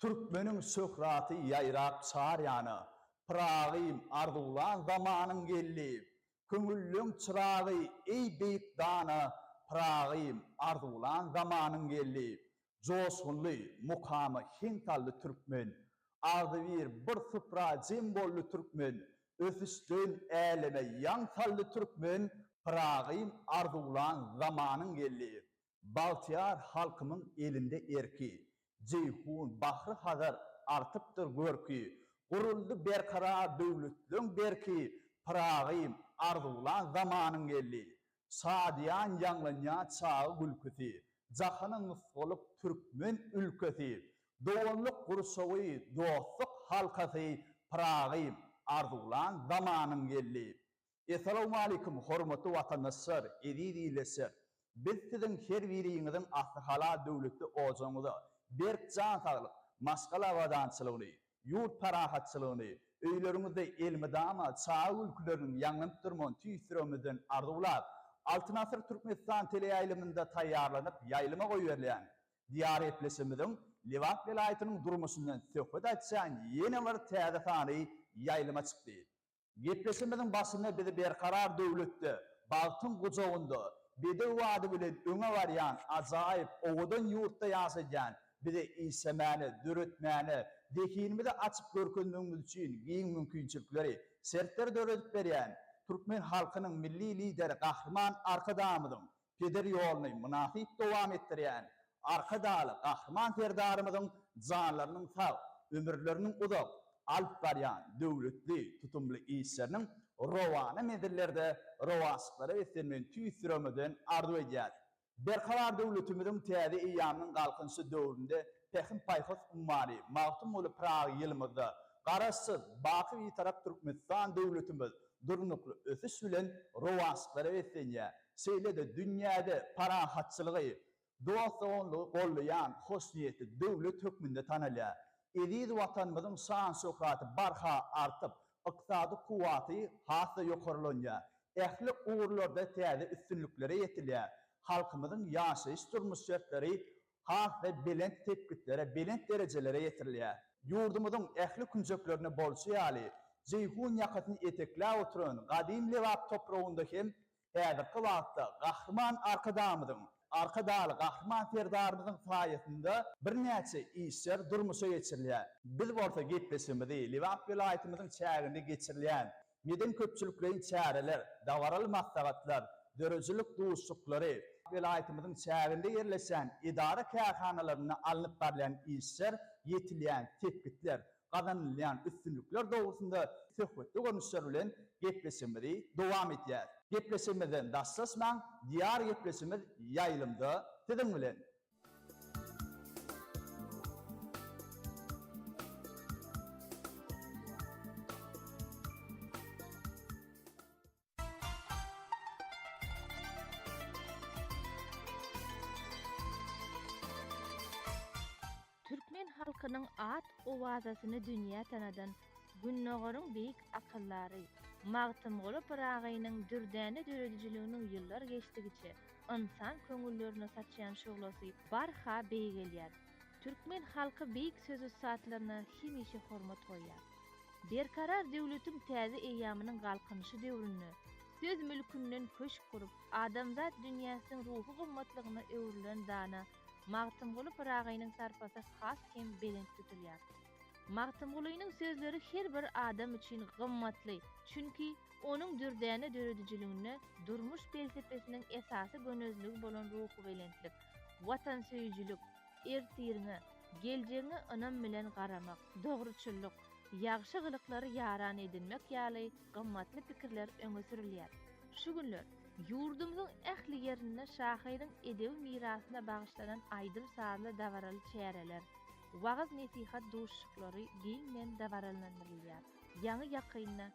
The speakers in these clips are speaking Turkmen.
Türkmeniň şöhraty ýaýrap çar ýana, Pyragym arzuwlan zamanyň geldi. Köňülleň çyragy, eý, beýik dana, Pyragym arzuwlan zamanyň geldi. Joşgunly mukama heň saldy türkmen, Agzybir bir supra jem boldy türkmen, Ösüşden äleme ýaň saldy türkmen, Pyragym arzuwlan zamanym geldi, Bagtyýar halkymyň elinde erki. Jeýhun bahry Hazar artypdyr görki, Guruldy berkarar döwletleň berki, Pyragym arzuwlan zamanym geldi, Şadyýan ýaňlanýa çaga gülküsi, Jahana nusgalyk türkmen ülkesi, Doganlyk gurşawy, dostluk halkasy, Pyragy arzuwlan zamanyň geldi. Essalawmaleýkum hormatly watandaşlar, eziz ildeşler! Biz siziň her biriňiziň asly halal döwletli ojagyňyza berk jan saglyk, maşgala abadançylygny, ýurt parahatçylygyny, öýleriňizde elmydama çaga gülküleriniň ýaňlanyp durman tüýs-tiremizden arzuwlap, Altyn asyr Türkmenistan teleýaýlymynda taýýarlanyp ýaýlyma goýberilýän Diýarepleşimiziň Lebap welaýatynyň durmuşyndan söhbet açýan ýene bir täze sany ýaýlyma çykdy. Gepleşigimiziň başynda bizi Berkarar döwletde, bagtyň gujagynda, bedew ady bilen öňe barýan ajaýyp, owadan ýurtda ýaşadýan bize işlemäne, döretmäne, zehinimizi açyp görkezmegimiz üçin giň mümkinçilikleri, şertleri döredip berýän türkmen halkynyň Milli Lideri Gahryman Arkadagymyzyň Peder ýoluny mynasyp dowam etdirýän Arkadagly Gahryman Serdarymyzyň janlarynyň sag, ömürleriniň uzak, alyp barýan döwletli, tutumly işleriniň rowana menzillerde rowaçlyklara beslenmegini tüýs ýüregimizden arzuw edýäris. Berkarar döwletimiziň täze eýýamynyň Galkynyşy döwründe Pähim-paýhas ummany Magtymguly Pyragy ýylymyzda Garaşsyz, baky Bitarap Türkmenistan döwletimiz durnukly ösüş bilen rowaçlyklara beslenýär. Şeýle-de dünýäde parahatçylygy, dost-doganlygy gollaýan hoşniýetli döwlet hökmünde tanalýar. Eziz Watanymyzyň şan-şöhraty barha artyp, ykdysady kuwwaty has-da ýokarlanýar. Ähli ugurlarda täze üstünliklere ýetilýär. Halkymyzyň ýaşaýyş-durmuş şertleri has we belent sepgitlere, belent derejelere ýetirilýär. Ýurdumyzyň ähli künjeklerinde bolşy ýaly, Jeýhun ýakasyny etekläp oturan gadym Lebap topragynda hem häzirki wagtda Gahryman Arkadagymyzyň, Arkadagly Gahryman Serdarymyzyň saýasynda birnäçe işler durmuşa geçirilýär. Biz bolsa gepleşigimizi Lebap welaýatymyzyň çäginde geçirilýän Medeni-köpçülikleýin çäreler, dabaraly maslahatlar, döredijilik duşuşyklary, welaýatymyzyň çäginde ýerleşýän edara-kärhanalarynda alnyp barylýan işler, ýetilýän sepgitler, gazanylýan üstünlikler dogrusynda söhbetli görnüşler bilen gepleşigimizi dowam edýäris. Gepleşigimizden daşlaşmaň, diýar gepleşigimiz ýaýlymda siziň bilen! Türkmen halkynyň at-owazasyny dünýä tanadan Gündogaryň beýik akyldary Magtymguly Pyragynyň dürdäne döredijiliginiň ýyllar geçdigiçe ynsan köňüllerine saçýan şuglasy barha beýgelýär. Türkmen halky beýik söz-ussatlaryna hemişe hormat goýýar. Berkarar döwletiň täze eýýamynyň Galkynyşy döwründe söz mülkünden köşk gurup, adamzat dünýäsiniň ruhy gymmatlygyna öwrülen dana Magtymguly Pyragynyň sarpasy has hem belent tutulýar. Magtymgulynyň sözleri her bir adam üçin gymmatly, çünki, Onuň dürdäne döredijiliginde durmuş pelsepesiniň esasy gönezligi bolan ruhubelentlik, watansöýüjilik, ertiriňe, geljegiňe ynam bilen garamak, dogruçyllyk, ýagşy gylyklary ýaran edinmek ýaly gymmatly pikirler öňe sürülýär. Şu günler ýurdumyzyň ähli ýerinde şahyryň edebi mirasyna bagyşlanan aýdym-sazly dabaraly çäreler, wagyz-nesihat duşuşyklary giňden dabaralandyrylýar. Ýaňy-ýakynda.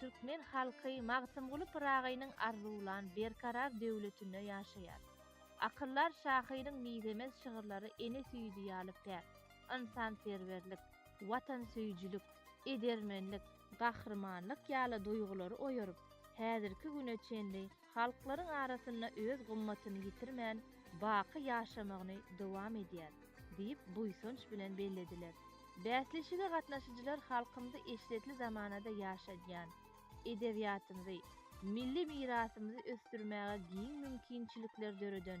Türkmen halky Magtymguly Pyragynyň arzuwlan berkarar döwletinde ýaşaýar. Akyldar şahyryň mizemez şygyrlary ene süýji ýaly päk, ynsanperwerlik, watansöýüjilik, edermenlik, gahrymanlyk ýaly duýgulary oýaryp, häzirki güne çenli halklaryň arasynda öz gymmatyny ýitirmän, baky ýaşamagyny dowam edýär diýip, buýsanç bilen bellediler. Bäsleşige gatnaşyjylar halkymyzy eşretli zamanada ýaşadýan, edebiýatymyzy, milli mirasymyzy ösdürmäge giň mümkinçilikler döreden,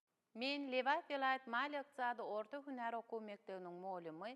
Men Lebap welaýat maliýe-ykdysady orta hünär okuw mekdebiniň mugallimy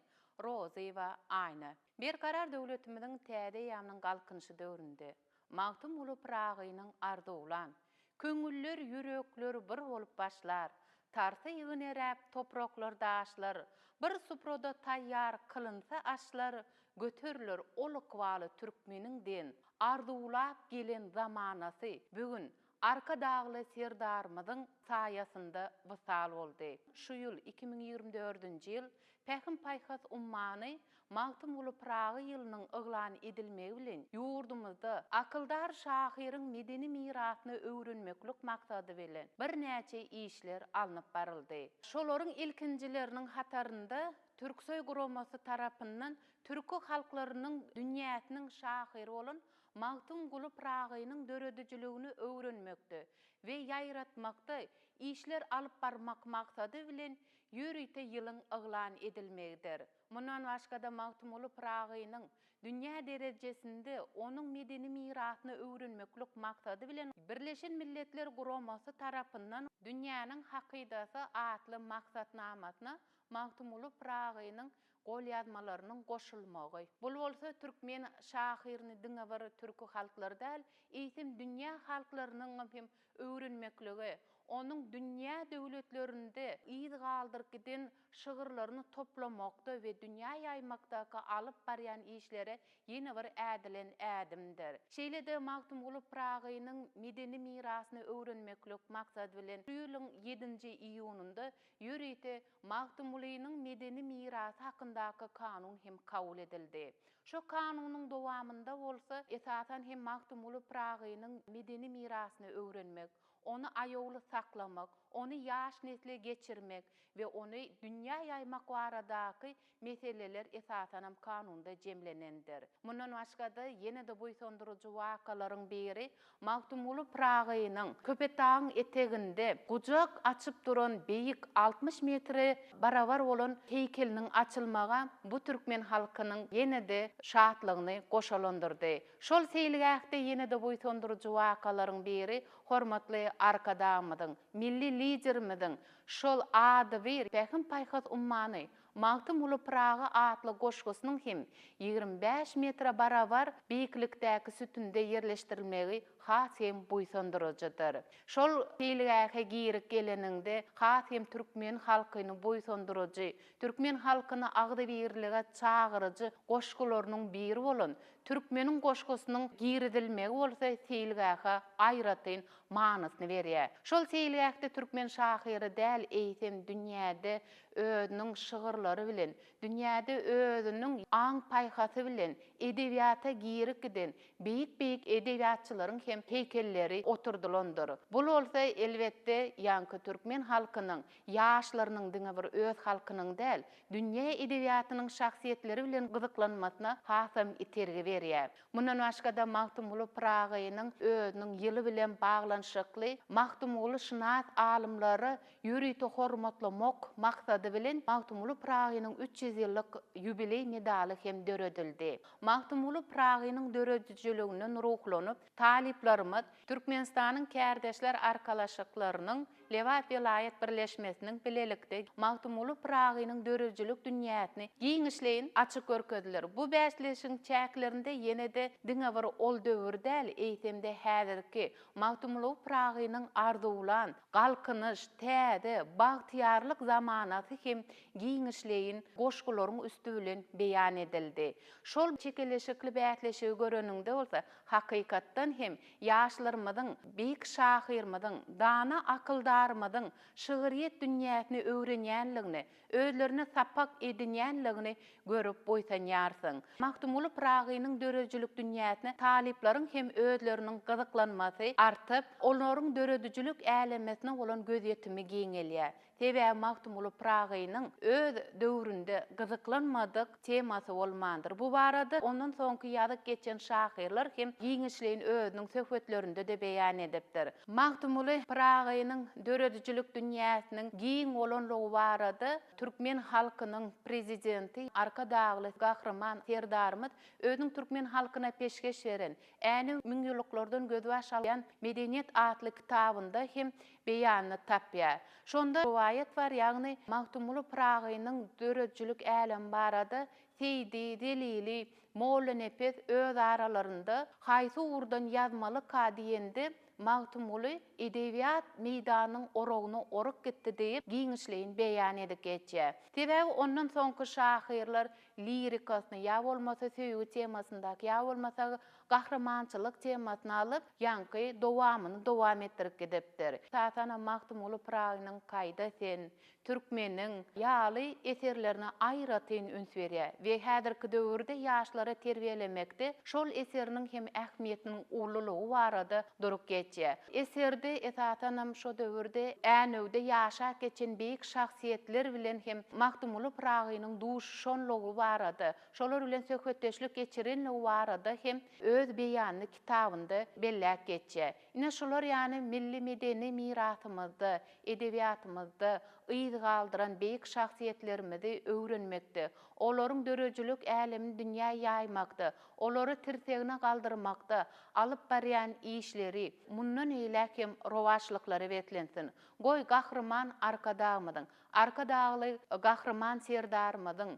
Rozyýewa Aýna. Berkarar döwletimiziň täze eýýamynyň Galkynyşy döwründe Magtymguly Pyragynyň arzuwlan, Köňüller, ýürekler bir bolup başlar, Tarsa ýygneräp topraklar, daşlar, Bir suprada taýýar kylynsa aşlar, Göteriler ol ykbaly türkmeniň diýen arzuwlap gelen zamanasy bu gün Arkadagly Serdarymyzyň saýasynda wysal boldy. Şu ýyl, iki müň ýigrimi dördünji ýyl, Pähim-paýhas ummany Magtymguly Pyragy ýylynyň yglan edilmegi bilen, ýurdumyzda akyldar şahyryň medeni mirasyny öwrenmeklik maksady bilen birnäçe işler alnyp baryldy. Şolaryň ilkinjileriniň hatarynda Türksoý guramasy tarapyndan türki halklarynyň dünýäsiniň şahyry bolan Magtymguly Pyragynyň döredijiligini öwrenmekde we ýaýratmakda işler alyp barmak maksady bilen ýörite ýylyň yglan edilmegidir. Mundan başga-da Magtymguly Pyragynyň dünýä derejesinde onuň medeni mirasyny öwrenmeklik maksady bilen Birleşen Milletler Guramasy tarapyndan Dünýäniň hakydasy atly maksatnamasyna Magtymguly Pyragynyň golýazmalarynyň goşulmagy. Bul bolsa türkmen şahyryny diňe bir türki halklar däl, eýsem dünýä halklarynyň hem öwrenmeklige, onuň dünýä döwletlerinde yz galdyryp giden şygyrlaryny toplamakda we dünýä ýaýmakdaky alyp barýan işleri ýene bir ädilen ädimdir. Şeýle-de Magtymguly Pyragynyň medeni mirasyny öwrenmeklik maksady bilen şu ýylyň ýedinji iýunynda Ýörite Magtymgulynyň medeni mirasy hakyndaky kanun hem kabul edildi. Şo kanunyň dowamynda bolsa, esasan hem Magtymguly Pyragynyň medeni mirasyny öwrenmek, ony aýawly saklamak, ony ýaş nesle geçirmek we ony dünýä ýaýmak baradaky meseleler esasanam kanunda jemlenendir. Mundan başga-da, ýene-de buýsandyryjy wakalaryň biri Magtymguly Pyragynyň Köpetdagyň eteginde gujak açyp duran beýik altmyş metre barabar bolan heýkeliniň açylmagy bu türkmen halkynyň ýene-de şatlygyny goşalandyrdy. Şol seýilgähde ýene-de buýsandyryjy wakalaryň biri hormatly Arkadagymyzyň, Milli Liderimiziň şol adybir Pähim-paýhas ummany, Magtymguly Pyragy atly goşgusynyň hem ýigrimi bäş metre barabar beýiklikdäki sütünde ýerleşdirilmegi has hem buýsandyryjydyr. Şol seýilgähe girip geleniňde has hem türkmen halkyny buýsandyryjy, türkmen halkyny agzybirlige çagyryjy goşgularynyň biri bolan Türkmeniň goşgusynyň girizilmegi bolsa seýilgähe aýratyn manysyny berýär. Şol seýilgähde türkmen şahyry däl, eýsem dünýäde özüniň şygyrlary bilen, dünýäde özüniň aň-paýhasy bilen edebiýata girip giden beýik-beýik edebiýatçylaryň hem heýkelleri oturdylandyr. Bul bolsa, elbetde, ýaňky türkmen halkynyň ýaşlarynyň diňe bir öz halkynyň däl, dünýä edebiýatynyň şahsyýetleri bilen gyzyklanmasyna hasam itergi berýär. Mundan başga-da Magtymguly Pyragynyň özüniň ýyly bilen baglanyşykly magtymgulyşynas alymlary ýörite hormatlamak maksady bilen Magtymguly Pyragynyň üç ýüz ýyllyk ýubileý medaly hem döredildi. Magtymguly Pyragynyň döredijiliginden ruhlanyp, talyplarymyz Türkmenistanyň Kärdeşler arkalaşyklarynyň, Lebap welaýat birleşmesiniň bilelikde Magtymguly Pyragynyň döredijilik dünýäsini giňişleýin açyp görkezdiler. Bu bäsleşigiň çäklerinde ýene-de diňe bir ol döwür däl, eýsem-de häzirki, Magtymguly Pyragynyň arzuwlan, Galkynyş, täze, bagtyýarlyk zamanasy hem giňişleýin goşgularyň üsti bilen beýan edildi. Şol çekeleşikli bäsleşigi göreniňde bolsa, hakykatdan hem, Ýaşlarymyzyň, beýik şahyrymyzyň, dana akyldarymyzyň şygryýet dünýäsini öwrenýänligini, özlerine sapak edinýänligini görüp buýsanýarsyň. Magtymguly Pyragynyň döredijilik dünýäsine talyplaryň hem özleriniň gyzyklanmasy artyp, olaryň döredijilik älemesine bolan gözýetimi giňelýär. Sebäbi Magtymguly Pyragynyň öz döwründe gyzyklanmadyk temasy bolmandyr. Bu barada ondan soňky ýazyp geçen şahyrlar hem giňişleýin özüniň söhbetlerinde-de beýan edipdir. Magtymguly Pyragynyň döredijilik dünýäsiniň giň bolanlygy barada türkmen halkynyň Prezidenti Arkadagly Gahryman Serdarymyz özüniň türkmen halkyna peşgeş beren, Änew müňýyllyklardan gözbaş alýan medeniýet atly kitabynda hem beýanyny tapýar. Şonda rowaýat bar, ýagny Magtymguly Pyragynyň döredijilik älemi barada Seýdi, Zelili, Mollanepes öz aralarynda Haýsy ugurdan ýazmalyka diýende, Magtymguly Edebiýat meýdanynyň oragyny orup gitdi diýip, giňişleýin beýan edip geçýär. Sebäbi ondan soňky şahyrlar lirikasyny, ýa bolmasa söýgi temasyndaky, ýa bolmasa Gahrymançylyk temasyny alyp, ýaňky dowamyny dowam etdirip gidipdir. Esasanam Magtymguly Pyragynyň Gaýda sen, Türkmeniň ýaly eserlerine aýratyn üns berýär we häzirki döwürde ýaşlary terbiýelemekde şol eseriniň hem ähmiýetiniň ululygy barada durup geçýär. Eserde esasanam şo döwürde Änewde ýaşap geçen beýik şahsyýetler bilen hem Magtymguly Pyragynyň duşuşanlygy barada Şolar bilen söhbetdeşlik geçirenligi barada hem öz beýanyny kitabynda belläp geçýär. Ine şular ýaly milli medeni mirasymyzda, edebiýatymyzda yz galdyran beýik şahsyýetlerimizi öwrenmekde, olaryň döredijilik älemini dünýä ýaýmakda, olary tirsegine galdyrmakda alyp barýan işleri mundan eýläk hem rowaçlyklara beslensin. Goý, Gahryman Arkadagymyzyň, Arkadagly Gahryman Serdarymyzyň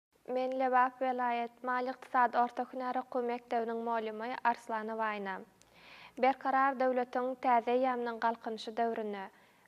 Men Lebap welaýat maliýe-ykdysady orta hünär okuw mekdebiniň molymy Arslan Waýna. Berkarar döwletiň täze eýýamynyň Galkynyşy döwründe,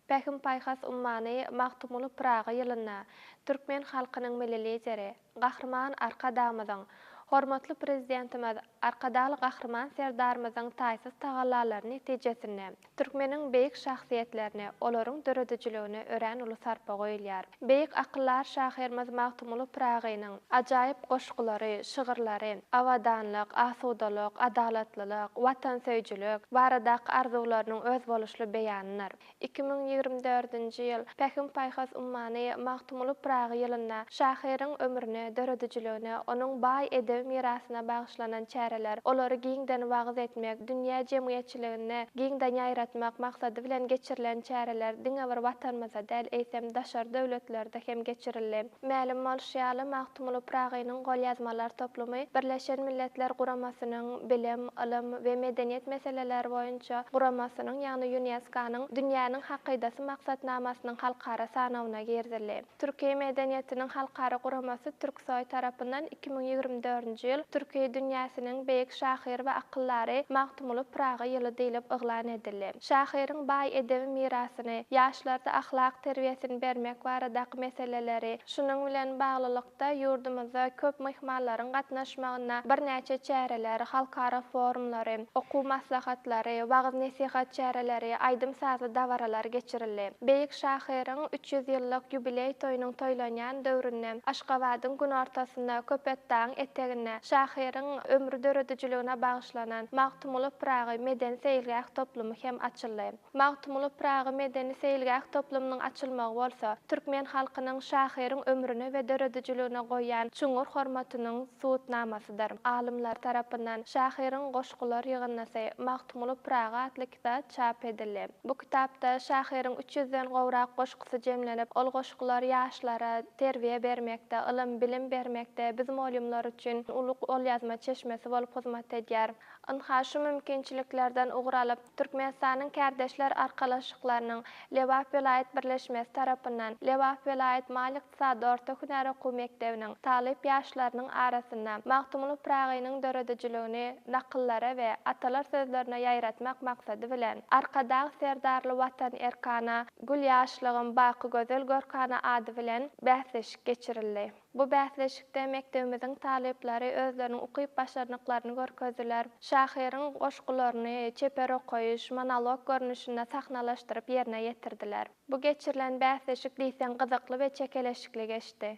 Pähim-paýhas ummany Magtymguly Pyragy ýylynda türkmen halkynyň Milli Lideri, Gahryman Arkadagymyzyň, hormatly Prezidentimiz Arkadagly Gahryman Serdarymyzyň taýsyz tagallalary netijesinde, türkmeniň beýik şahsyýetlerine, olaryň döredijiligine örän uly sarpa goýulýar. Beýik akyldar şahyrymyz Magtymguly Pyragynyň ajaýyp goşgulary, şygyrlary, abadanlyk, asudalyk, adalatlylyk, watansöýüjilik baradaky arzuwlarynyň özboluşly beýanydyr. Iki müň ýigrimi dördünji ýyl, Pähim-paýhas ummany Magtymguly Pyragy ýylynda şahyryň ömrüne, döredijiligine, onuň baý edebi mirasyna bagyşlanan çäreler, olary giňden wagyz etmek, dünýä jemgyýetçiliginde giňden ýaýratmak maksady bilen geçirilen çäreler diňe bir Watanymyzda däl, eýsem, daşary döwletlerde hem geçirildi. Mälim bolşy ýaly, Magtymguly Pyragynyň golýazmalar toplumy Birleşen Milletler Guramasynyň Bilim, ylym we medeniýet meseleleri boýunça guramasynyň, ýagny ÝUNESKO-nyň Dünýäniň hakydasy maksatnamasynyň halkara sanawyna girizildi. Türki medeniýetiniň halkara guramasy Türksoý tarapyndan iki müň ýigrimi dördünji ýyl Türki dünýäsiniň beýik şahyr we akyldary Magtymguly Pyragy ýyly diýlip yglan edildi. Şahyryň baý edebi mirasyny, ýaşlarda ahlak terbiýesini bermek baradaky meseleleri, şunuň bilen baglylykda, ýurdumyzda köp myhmanlaryň gatnaşmagynda birnäçe çäreler, halkara forumlary, okuw maslahatlary, wagyz-nesihat çäreleri, aýdym-sazly dabaralar geçirildi. Beýik şahyryň üç ýüz ýyllyk ýubileý toýunyň toýlanýan döwründe Aşgabadyň günortasynda, Köpetdagyň eteginde şahyryň ömri döredijiligine bagyşlanan, Magtymguly Pyragy medeni-seýilgäh toplumy hem açyldy. Magtymguly Pyragy medeni-seýilgäh toplumynyň açylmagy bolsa, türkmen halkynyň şahyryň ömrüne we döredijiligine goýýan çuňňur hormatynyň subutnamasydyr. Alymlar tarapyndan şahyryň goşgular ýygyndysy Magtymguly Pyragy atly kitap çap edildi. Bu kitapda şahyryň üç ýüzden gowrak goşgusy ýaşlarymyzy jemlenip, ol goşgular ýaşlara terbiýe bermekde, ylym, bilim bermekde biz molýumlar üçin uly golýazma çeşmesi bolup hyzmat edýär. Ynha, şu mümkinçiliklerden ugur alyp, Türkmenistanyň Kärdeşler arkalaşyklarynyň Lebap welaýat birleşmesi tarapyndan Lebap welaýat maliýe-ykdysady orta hünär okuw mekdebiniň talyp ýaşlarynyň arasynda Magtymguly Pyragynyň döredijiligini nakyllara we atalar sözlerine ýaýratmak maksady bilen Arkadag Serdarly Watan erkana Gül ýaşlygym, baky gözel görkana ady bilen bäsleşik geçirildi. Bu bäsleşikde mekdebimiziň talyplary özleriniň ukyp-başarnyklaryny görkezdiler, şahyryň goşgularyny çeper okaýyş, monolog görnüşinde sahnalaşdyryp ýerine ýetirdiler. Bu geçirilen bäsleşik diýseň gyzykly we çekeleşikli geçdi.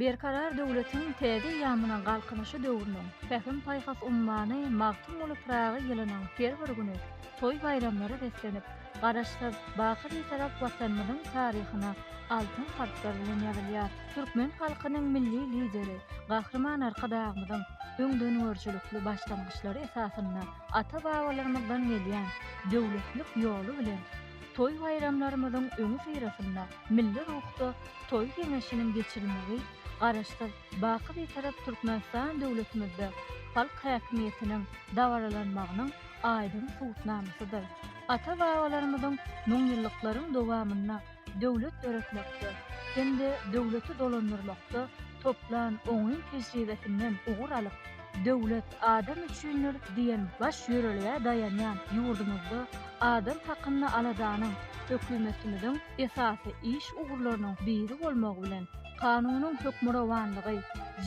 Berkarar döwletiň täze eýýamynyň Galkynyşy döwrüniň Pähim-paýhas ummany Magtymguly Pyragy ýylynyň her bir güni toý-baýramlara beslenip, Garaşsyz, baky Bitarap Watanymyzyň taryhyna altyn harplar bilen ýazylýar. Türkmen halkynyň Milli Lideri Gahryman Arkadagymyzyň öňdengörüjilikli başlangyçlary esasynda ata-babalarymyzdan gelýän döwletlilik ýoly bilen toý-baýramlarymyzyň öňüsyrasynda milli ruhda Toý geňeşiniň geçirilmegi Garaşsyz, baky Bitarap Türkmenistan döwletimizde halk häkimiýetiniň dabaralanmagynyň aýdyň subutnamasydyr. Ata-babalarymyzyň müňýyllyklaryň dowamynda döwlet döretmekde hem-de döwleti dolandyrmakda toplan oňyn tejribesinden ugur alyp, Döwlet adam üçindir! diýen baş ýörelgä daýanýan ýurdumyzda adam hakynda aladanyň hökümetimiziň esasy iş ugurlarynyň biri bolmagy bilen, Kanunyň hökmürowanlygy,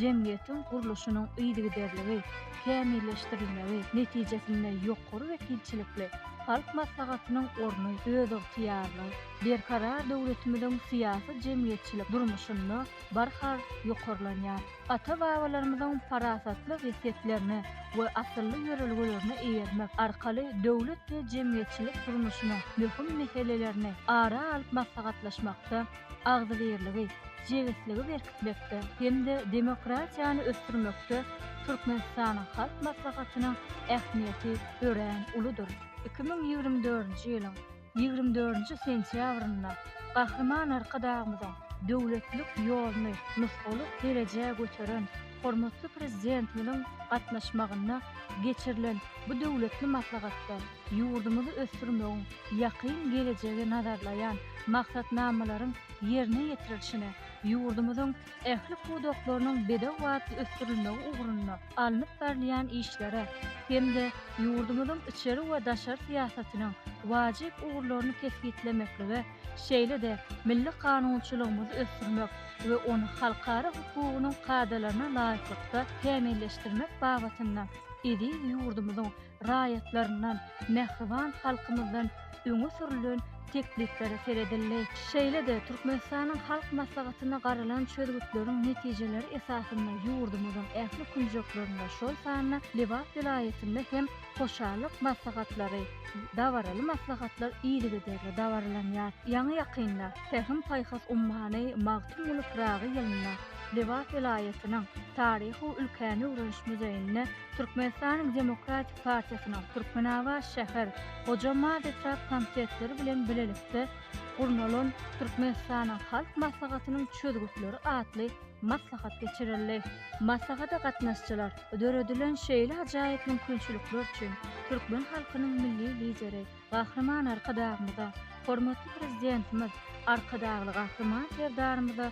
jemgyýetiň gurluşynyň yzygiderligi, kämilleşdirilmegi, netijesinde ýokary wekilçilikli Halk Maslahatynyň orny, özygtyýarly, berkarar döwletimiziň syýasy-jemgyýetçilik durmuşynda barha ýokarlanýar. Ata-babalarymyzyň parasatly wesýetlerine we asylly ýörelgelerine eýermek arkaly döwlet we jemgyýetçilik durmuşynyň möhüm meselelerini ara alyp maslahatlaşmakda, agzybirligi, jebisligi berkitmekde hem-de demokratiýany ösdürmekde Türkmenistanyň Halk Maslahatynyň ähmiýeti örän uludyr. Iki müň ýigrimi dördünji ýylyň ýigrimi dördünji sentýabrynda Gahryman Arkadagymyzyň döwletlilik ýoluny nusgalyk derejä göteren hormatly Prezidentimiziň gatnaşmagynda geçirilen bu döwletli maslahatda, Ýurdumyzy ösdürmegiň ýakyn gelejegi nazarlaýan maksatnamalaryň ýerine ýetirilişine ýurdumyzyň ähli pudaklarynyň bedew batly ösdürilmegi ugrunda alnyp barylýan işlere hem-de ýurdumyzyň içeri we daşary syýasatynyň wajyp ugurlaryny kesgitlemeklige, şeýle-de milli kanunçylygymyzy ösdürmek we ony halkara hukugynyň kadalaryna laýyklykda kämilleşdirmek babatynda eziz ýurdumyzyň raýatlaryndan, mähriban halkymyzdan öňe sürlen tekliplere seredildi. Şeýle-de Türkmenistanyň Halk Maslahatynda garalan çözgütleriň netijeleri esasynda ýurdumyzyň ähli künjeklerinde, şol sanda Lebap welaýatynda hem hoşallyk maslahatlary, dabaraly maslahatlar yzygiderli dabaralanýar. Ýaňy-ýakynda Pähim-paýhas ummany Magtymguly Pyragy ýylynda Lebap welaýatynyň Taryhy-ülkäni öwreniş muzeýinde Türkmenistanyň Demokratik partiýasynyň Türkmenabat şäher Hoja Mard etrap komitetleri bilen bilelikde gurnalan Türkmenistanyň Halk Maslahatynyň çözgütleri atly maslahat geçirildi. Maslahata gatnaşyjylar döredilen şeýle ajaýyp mümkinçilikler üçin türkmen halkynyň Milli Lideri Gahryman Arkadagymyza, hormatly Prezidentimiz Arkadagly Gahryman Serdarymyza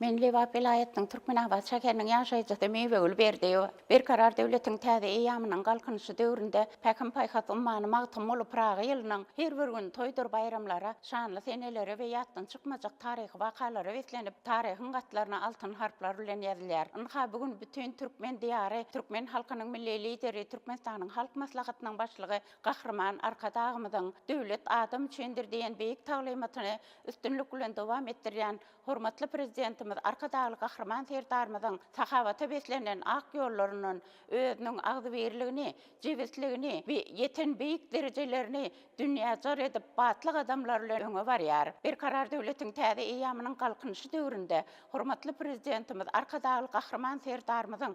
Men Lebap welaýatynyň Türkmenabat şäheriniň ýaşaýjysy Miwegül Berdiýewa. Berkarar döwletiň täze eýýamynyň Galkynyşy döwründe Pähim-paýhas ummany Magtymguly Pyragy ýylynyň her bir güni toýdur baýramlara, şanly senelere we ýatdan çykmajak taryhy wakalara beslenip, taryhyň gatlaryna altyn harplar bilen ýazylýar. Ynha, bu gün bütin türkmen diýary, türkmen halkynyň Milli Lideri, Türkmenistanyň Halk Maslahatynyň Başlygy Gahryman Arkadagymyzyň Döwlet adam üçindir! diýen beýik taglymatyny üstünlik bilen dowam etdirýän hormatly Prezidentimiz Arkadagly Gahryman Serdarymyzyň sahawata beslenen ak ýollaryndan, özüniň agzybirligini, jebisligini we ýeten beýik derejelerini dünýä jar edip, batly gadamlar bilen öňe barýar. Berkarar döwletiň täze eýýamynyň Galkynyşy döwründe hormatly Prezidentimiz Arkadagly Gahryman Serdarymyzyň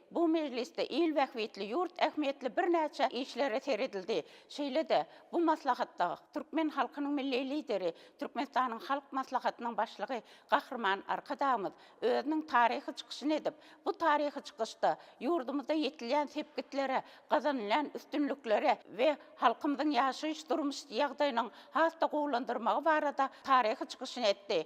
Bu mejlisde il bähbitli, ýurt ähmiýetli birnäçe işlere seredildi. Şeýle-de, bu maslahatda türkmen halkynyň Milli Lideri, Türkmenistanyň Halk Maslahatynyň Başlygy Gahryman Arkadagymyz özüniň taryhy çykyşyny edip, bu taryhy çykyşda ýurdumyzda ýetilýän sepgitlere, gazanylýan üstünliklere we halkymyzyň ýaşaýyş-durmuş ýagdaýynyň has-da gowulandyrmagy barada taryhy çykyşyny etdi.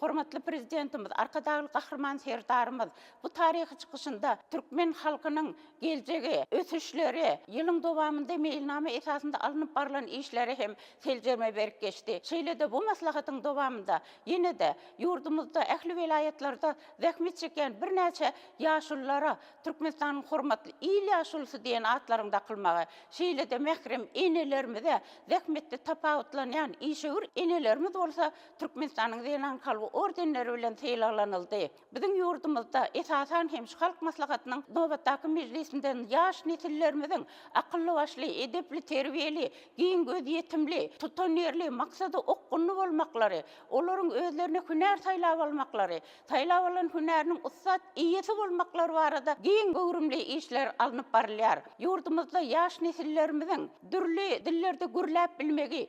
Hormatly Prezidentimiz Arkadagly Gahryman Serdarymyz bu taryhy çykyşynda türkmen halkynyň geljegi, ösüşleri, ýylyň dowamynda meýilnama esasynda alnyp barlan işlere hem seljerme berip geçdi. Şeýle-de bu maslahatyň dowamynda ýene-de ýurdumyzda ähli welaýatlarda zähmet çekýän birnäçe ýaşululara Türkmenistanyň hormatly il ýaşulusy diýen atlaryň dakylmagy, şeýle-de mährem enelerimize, zähmetde tapawutlanýan işewür enelerimiz bolsa Türkmenistanyň Zenan kalby ordenleri bilen sylaglanyldy. Biziň ýurdumyzda, esasan hem, şu Halk Maslahatynyň nobatdaky mejlisinden ýaş nesillerimiziň akylly-başly, edepli-terbiýeli, giň gözýetimli, tutanýerli, maksada okgunly bolmaklary, olaryň özlerine hünär saýlap almaklary, saýlap alan hünäriniň ussat eýesi bolmaklary barada giň göwrümli işler alnyp barylýar. Ýurdumyzda ýaş nesillerimiziň dürli dillerde gürläp bilmegi,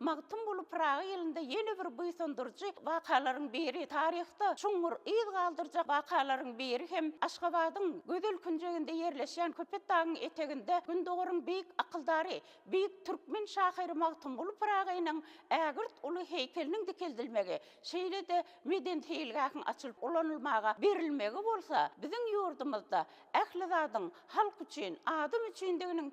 Magtymguly Pyragy ýylynda ýene bir buýsandyryjy wakalaryň biri, taryhda çuňňur yz galdyrjak wakalaryň biri hem Aşgabadyň gözel künjeginde ýerleşýän Köpetdagyň eteginde Gündogaryň beýik akyldary, beýik türkmen şahyry Magtymguly Pyragynyň ägirt uly heýkeliniň dikeldilmegi, şeýle-de medeni seýilgähiň açylyp ulanylmaga berilmegi bolsa biziň ýurdumyzda ähli zadyň halk üçin, adam üçindiginiň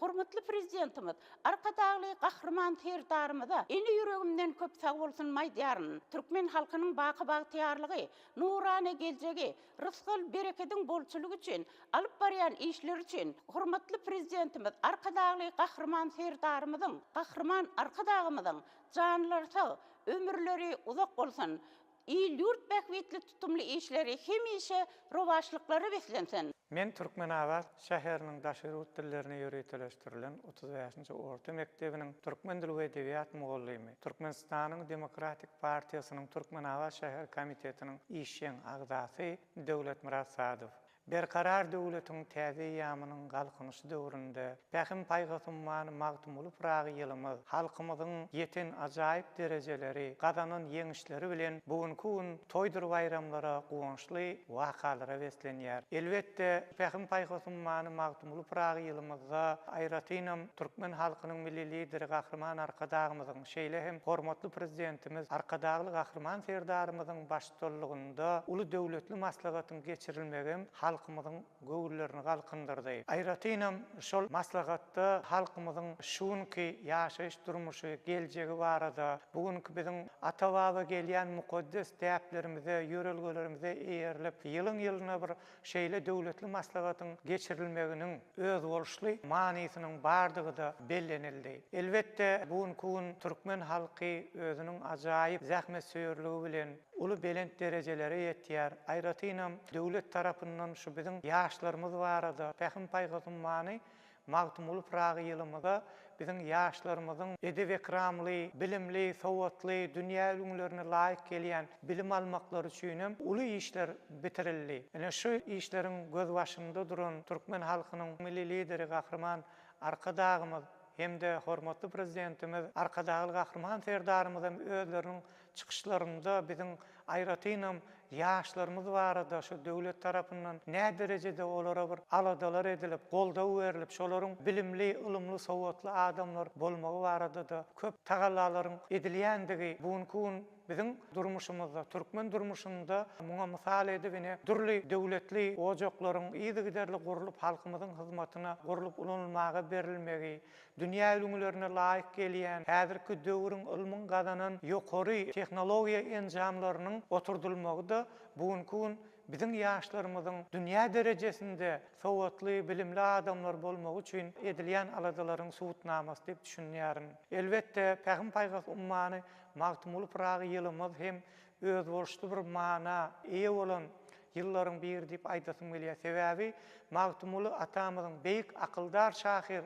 Hormatly Prezidentimiz Arkadagly Gahryman Serdarymyza ini ýüregimden köp sagbolsun aýdýaryn. Türkmen halkynyň baky bagtyýarlygy, nurana geljegi, rysgal, berekediň bolçulygy üçin alyp barýan işleri üçin hormatly Prezidentimiz Arkadagly Gahryman Serdarymyzyň, Gahryman Arkadagymyzyň janlary sag, ömürleri uzak bolsun! Il-ýurt bähbitli tutumly işleri hemişe rowaçlyklara beslensin! Men Türkmenabat şäheriniň daşary ýurt dillerine ýöriteleşdirilen otuz bäşinji orta mekdebiniň türkmen dili we edebiýat mugallymy, Türkmenistanyň Demokratik partiýasynyň Türkmenabat şäher komitetiniň işjeň agzasy Döwletmyrat Sadow. Berkarar döwletiň täze eýýamynyň Galkynyşy döwründe Pähim-paýhas ummany Magtymguly Pyragy ýylymyz halkymyzyň ýeten ajaýyp derejeleri, gazanan ýeňişleri bilen bu günki gün toýdur baýramlara, guwançly wakalara beslenýär. Elbetde, Pähim-paýhas ummany Magtymguly Pyragy ýylymyzda aýratynam türkmen halkynyň Milli Lideri Gahryman Arkadagymyzyň, şeýle hem hormatly Prezidentimiz Arkadagly Gahryman Serdarymyzyň baş baştutanlygynda uly döwletli maslahatyň geçirilmegem halkymyzyň göwünlerini galkyndyrdy. Aýratynam şol maslahatda halkymyzyň şu günki ýaşaýyş-durmuşy, geljegi barada, bu günki biziň ata-baba gelýän mukaddes däplerimize, ýörelgelerimize eýerilip, ýylyň-ýylyna bir Şeýle döwletli maslahatyň geçirilmeginiň özboluşly manysynyň bardygy-da bellenildi. Elbetde, bu günki gün türkmen halky özüniň ajaýyp zähmetsöýerligi bilen uly belent derejelere ýetýär. Aýratynam, döwlet tarapyndan şu biziň ýaşlarymyz barada pähim-paýhas ummany Magtymguly Pyragy ýylymyza biziň ýaşlarymyzyň edep-ekramly, bilimli, sowatly, dünýä ülňülerine laýyk gelýän bilim almaklary üçin hem uly işler bitirildi. Ine, şu işleriň gözbaşynda duran türkmen halkynyň Milli Lideri Gahryman Arkadagymyz hem-de hormatly Prezidentimiz Arkadagly Gahryman Serdarymyz hem özleriniň Çykyşlarynda biziň aýratynam ýaşlarymyz barada şu döwlet tarapyndan näderejede olara bir aladalar edilip, goldaw berlip, şolaryň bilimli, ylymly, sowatly adamlar bolmagy barada-da köp tagallalaryň edilýändigi bu günki gün biziň durmuşymyzda, türkmen durmuşynda muňa mysal edip ine dürli döwletli ojaklaryň yzygiderli gurlup halkymyzyň hyzmatyna gurlup ulanylmaga berilmegi, Dünýä ülňülerine laýyk gelýän häzirki döwrüň ylmyň gazanan ýokary tehnologiýa enjamlarynyň oturdylmagy-da bu günki gün biziň ýaşlarymyzyň dünýä derejesinde sowatly, bilimli adamlar bolmagy üçin edilýän aladalaryň subutnamasy diýip düşünýärin. Elbetde, Pähim-paýhas ummany Magtymguly Pyragy ýylymyz hem özboluşly bir mana eýe bolan ýyllaryň biri diýip aýdasym gelýär. Sebäbi Magtymguly atamyzyň, beýik akyldar şahyr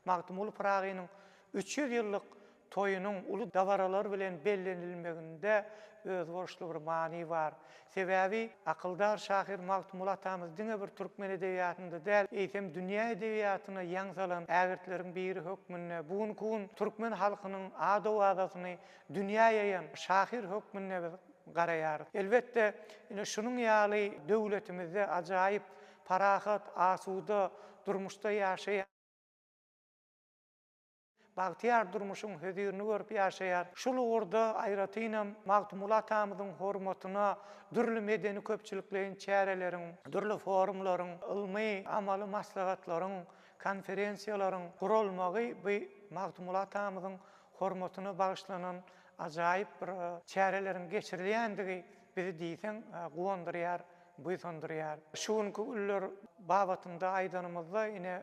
Magtymguly Pyragynyň üç ýüz ýyllyk toýunyň uly dabaralar bilen bellenilmeginde özboluşly bir many bar. Sebäbi akyldar şahyr Magtymguly atamyz diňe bir türkmen edebiýatynda däl, eýsem dünýä edebiýatyna ýaň salan ägirtleriň biri hökmünde bu günki gün türkmen halkynyň ad-owazasyny dünýä ýaýan şahyr hökmünde biz garaýarys. Elbetde, ine, şunuň ýaly döwletimizde ajaýyp, parahat, asuda durmuşda ýaşaýan, bagtyýar durmuşyň hözirini görüp ýaşaýar. Şul ugurda aýratynam Magtymguly atamyzyň hormatyna dürli medeni-köpçülikleýin çäreleriň, dürli forumlaryň, ylmy-amaly maslahatlaryň, konferensiýalaryň guralmagy bu Magtymguly atamyzyň hormatyna bagyşlanan ajaýyp bir çäreleriň geçirilýändigi bizi diýseň guwandyrýar, buýsandyrýar. Şu günki günler babatynda aýdanymyzda, ine,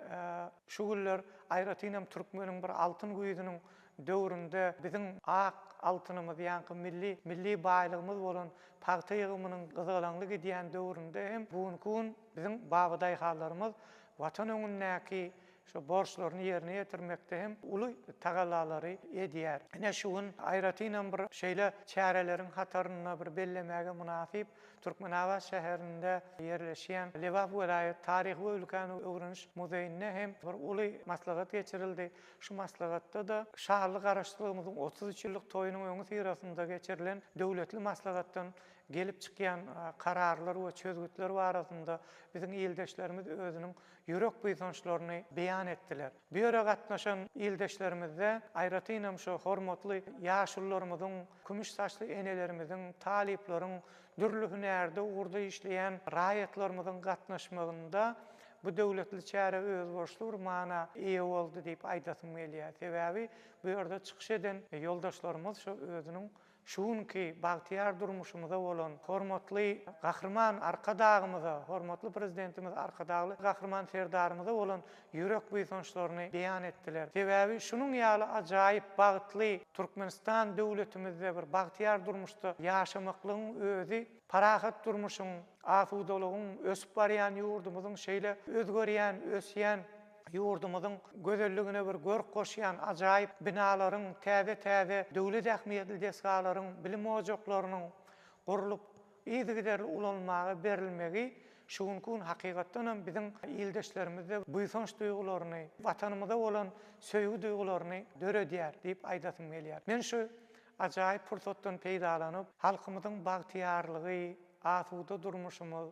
şu günler aýratyn hem türkmeniň bir altyn güýzüniň döwründe biziň ak altynymyz, ýaňky milli milli baýlygymyz bolan pagta ýygymynyň gyzgalaňly gidýän döwründe hem bu günki gün biziň babadaýhanlarymyz Watan öňündäki Şu borçlaryny ýerine ýetirmekde hem uly tagallalary edýär. Ine, şu gün aýratynam bir şeýle çäreleriň hatarynda bir bellemäge mynasyp, Türkmenabat şäherinde ýerleşýän Lebap welaýat taryhy we ülkäni öwreniş muzeýinde hem bir uly maslahat geçirildi. Şu maslahatda-da şanly Garaşsyzlygymyzyň otuz üç ýyllyk toýunyň öňüsyrasynda geçirilen döwletli maslahatdan gelip çykýan kararlar we çözgütler barasynda biziň ildeşlerimiz özüniň ýürek buýsançlaryny beýan etdiler. Bu ýere gatnaşan ildeşlerimizde, aýratynam şu hormatly ýaşulularymyzyň, kümüş saçly enelerimiziň, talyplaryň, dürli hünärde ugurda işleýän raýatlarymyzyň gatnaşmagynda bu döwletli çäre özboluşly bir mana eýe boldy diýip aýdasym gelýär. Sebäbi bu ýerde çykyş eden ýoldaşlarymyz şu özüniň Şu günki bagtyýar durmuşymyza bolan hormatly Gahryman Arkadagymyza, hormatly Prezidentimiz Arkadagly Gahryman Serdarymyza bolan ýürek buýsançlaryny beýan etdiler. Sebäbi şunuň ýaly ajaýyp, bagtly Türkmenistan döwletimizde bir bagtyýar durmuşda ýaşamaklygyň özi parahat durmuşyň, asudalygyň, ösüp barýan ýurdumyzyň şeýle özgerýän, ösýän, Ýurdumyzyň gözelligine bir görk goşýan ajaýyp binalaryň, täze-täze döwlet ähmiýetli desgalaryň, bilim ojaklarynyň gurlup, yzygiderli ulanylmaga berilmegi şu günki gün hakykatdan hem biziň ildeşlerimizde buýsanç duýgularyny, Watanymyza bolan söýgi duýgularyny döredýär diýip aýdasym gelýär. Men şu ajaýyp pursatdan peýdalanyp, halkymyzyň bagtyýarlygy, asuda durmuşymyz,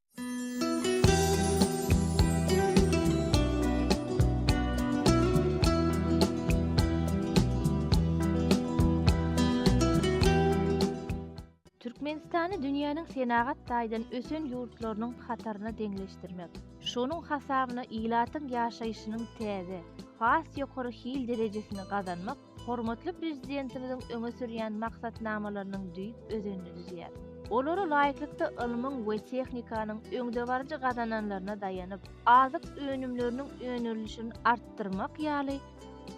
Türkmenistany dünýäniň senagat taýdan ösen ýurtlarynyň hataryna deňleşdirmek, şonuň hasabyna ilatyň ýaşaýşynyň täze, has ýokary hil derejesini gazanmak hormatly Prezidentimiziň öňe sürýän maksatnamalarynyň düýp özenini düzýär. Olara laýyklykda ylmyň we tehnikanyň öňdebaryjy gazananlaryna daýanyp, azyk önümleriniň önerilişini artdyrmak ýaly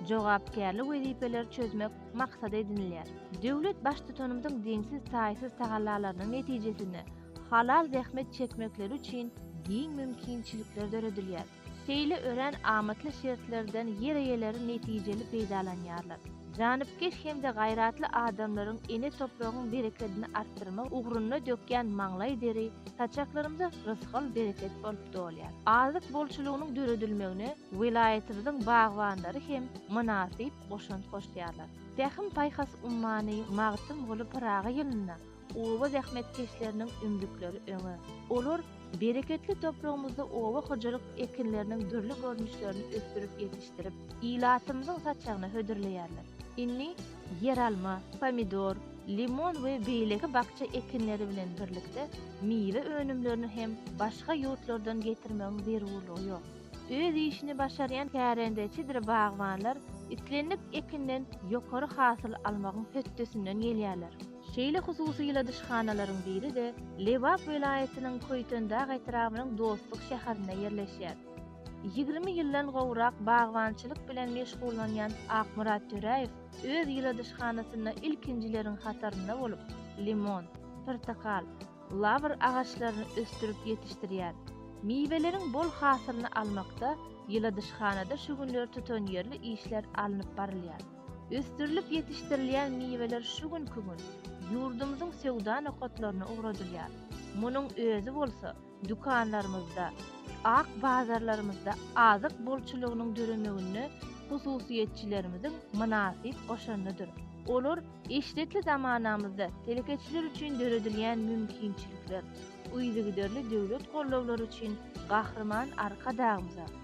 jogapkärli wezipeleri çözmek maksat edinilýär. Döwlet Baştutanymyzyň deňsiz-taýsyz tagallalarynyň netijesinde halal zähmet çekmekleri üçin giň mümkinçilikler döredilýär. Şeýle örän amatly şertlerden ýer eýeleri netijeli peýdalanýarlar. Janypkeş hem-de gaýratly adamlaryň ene topragyň berekedini artdyrmak ugrunda dökýän maňlaý deri saçaklarymyza rysgal-bereket bolup dolýar. Azyk bolçulygynyň döredilmegine welaýatymyzyň bagbanlary hem mynasyp goşant goşýarlar. Pähim-paýhas ummany Magtymguly Pyragy ýylynda Oba zähmetkeşleriniň ümzükleri öňe! Olar bereketli topragymyzda oba hojalyk ekinleriniň dürli görnüşlerini ösdürip ýetişdirip, ilatymyzyň saçagyna hödürleýärler. Indi ýeralma, pomidor, limon we beýleki bakja ekinleri bilen birlikde miwe önümlerini hem başga ýurtlardan getirmegiň zerurlygy ýok. Öz işini başarýan kärendeçidir bagbanlar islendik ekinden ýokary hasyl almagyň hötdesinden gelýärler. Şeýle hususy ýyladyşhanalaryň biri-de Lebap welaýatynyň Köýtendag etrabynyň Dostluk şäherinde ýerleşýär. Ýigrimi ýyldan gowrak bagbançylyk bilen meşgullanýan Akmyrat Töräýew öz ýyladyşhanasynda ilkinjileriň hatarynda bolup, limon, pyrtakal, lawr agaçlaryny ösdürip ýetişdirýär. Miweleriň bol hasylyny almakda ýyladyşhanada şu günler tutanýerli işler alnyp barylýar. Ösdürilip ýetişdirilýän miweler şu günki gün ýurdumyzyň söwda nokatlaryna ugradylýar. Munuň özi bolsa dükanlarymyzda, ak bazarlarymyzda azyk bolçulygynyň döremeginde hususyýetçilerimiziň mynasyp goşandydyr. Olar eşretli zamanamyzda telekeçiler üçin döredilýän mümkinçilikler, yzygiderli döwlet gollawlary üçin Gahryman Arkadagymyza,